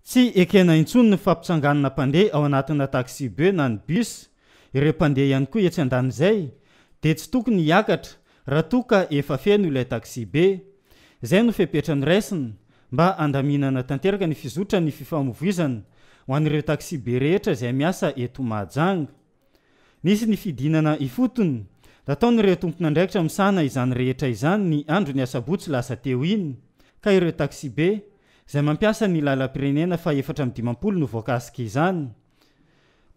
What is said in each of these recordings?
Tsy ekena intsony ny fampitsanganana mpandeha ao anatina taxi-beu na ny bus, ireo mpandeha ihany koa etsy andanin'izay dia tsy tokony hiakatra raha toa ka efa feno ilay taxi-be. Izay no fepetra noraisina mba handaminana tanteraka ny fizotran'ny fifamovoizana ho an'ireo taxi-be rehetra izay miasa eto Mahajanga. Nisy ny fidinana ifotony. Nataon'ireo tompon'andraikitra misahana izany rehetra izany ny andron'ny asabotsy lasa teo iny, ka ireo taxi-be, izay mampiasa ny lalam-pirenena fahefatra amby dimampolo novoakasika izany.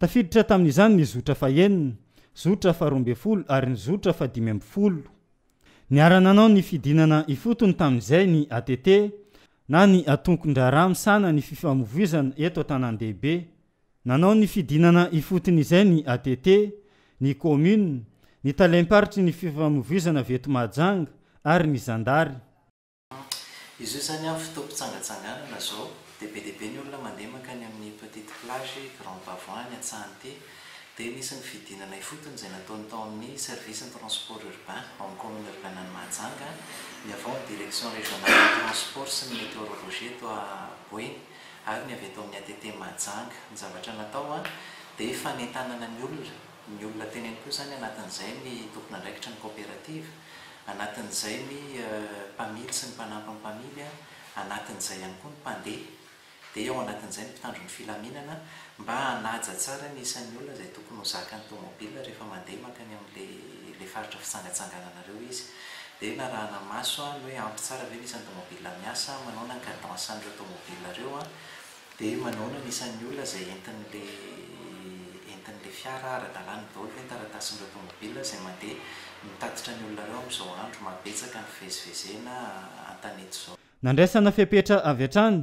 Tafiditra tamin'izany ny zotra fahenina, zotra faharoa ambin'ny folo ary ny zotra fahadimy ambin'ny folo. Niara-nanao ny fidinana ifotony tamin'izay ny ATT, na ny antonkon-draharaha misahana ny fifamoivoizana eto an-tanàn-dehibe. Nanao ny fidinana ifotony izay ny ATT, ny Commune, ny Talem-paritry ny Fifamoivoizana avy eto Mahajanga ary ny Zandary. Izao izany amin'ny fotoam-pitsangatsanganana izao dia be dia be ny olona mandeha mankany amin'ny Petite Plage, Grand Bavon, ny Antsahanite. Dia nisy ny fidinana ifotony izay nataony tao amin'ny Service ny Transport Urbain ao amin'ny Commune Urbaine an'i Mahajanga, ny avy ao amin'ny Direction Régionale des Transports sy ny Météorologie eto Boeny. ary ny avy eto amin'ny ATT Mahajanga. Ny zavatra natao dia fanentanana ny olona, ny olona teny ihany koa izany anatin'izay ny tompon'andraikitry ny kaoperativa, anatin'izay ny mpamily sy ny mpanampy ny mpamily, anatin'izay ihany koa ny mpandeha, dia ao anatin'izay ny mpitandro ny filaminana. Mba hanaja tsara ny isan'ny olona izay tokony ho zakan'ny tomobilina rehefa mandeha mankany amin'ilay faritra fitsangatsangananareo izy. Dia narahana maso ny hoe ampy tsara ve ny isan'ny tomobilina miasa, manaona ny cadence an'ireo tomobilina ireo, dia manaona ny isan'ny olona izay entin'ilay entin'ilay fiara ara-dalàna daholo ve ny taratasin'ireo tomobilina izay mandeha mitatitra ny olona ireo amin'izao andro maha betsaka ny fivezivezena an-tanety izao. Nandraisana fepetra avy hatrany